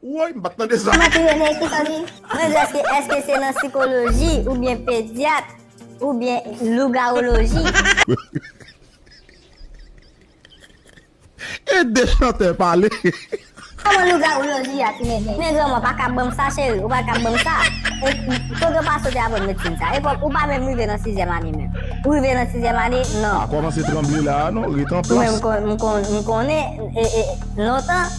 Woy m pat tande sa. Kman kriye mesi fanmi. Mwen vle eske eske se nan sikoloji ou byen pedyat ou byen lougawoloji. Ede chantè pale. Koman lougawoloji a tounen men men granmou a pa ka banm sa cheri ou pa ka banm sa e kote ou pa soti aprann medsin sa e ou pa menm rive nan sizyèm ane menm ou rive nan sizyèm ane non. Pa kòmanse tranble la a non ret anplas. Ou menm m konnen lontan.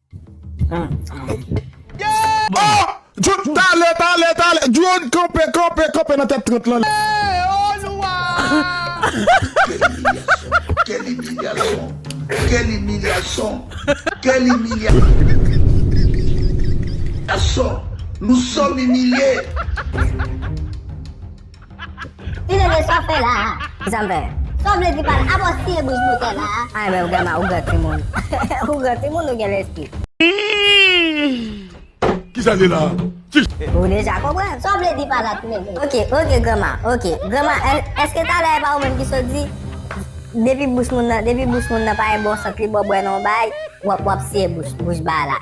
Talè talè talè Drone kanpe kanpe kanpe nan tèt 30 lan Quelle humiliation Quelle humiliation Quelle humiliation Nous sommes humiliés Tinene sa w fè la a? Kisa m fè? Sa w vle di pa l apwostiye bouch boutèy la a? Ay men grandma ou gran timoun. Ou gran timoun ou gen lespri. Kisa l ye la a? Ou deja konprann. Sa w vle di pa la Tinene? Ok, ok grandma, ok. Grandma èske talè e pa ou menm ki sot di depi bouch moun nan depi bouch moun nan pa en bon sant li ba w bwè nan yon bagay w ap siye bouch ba a la?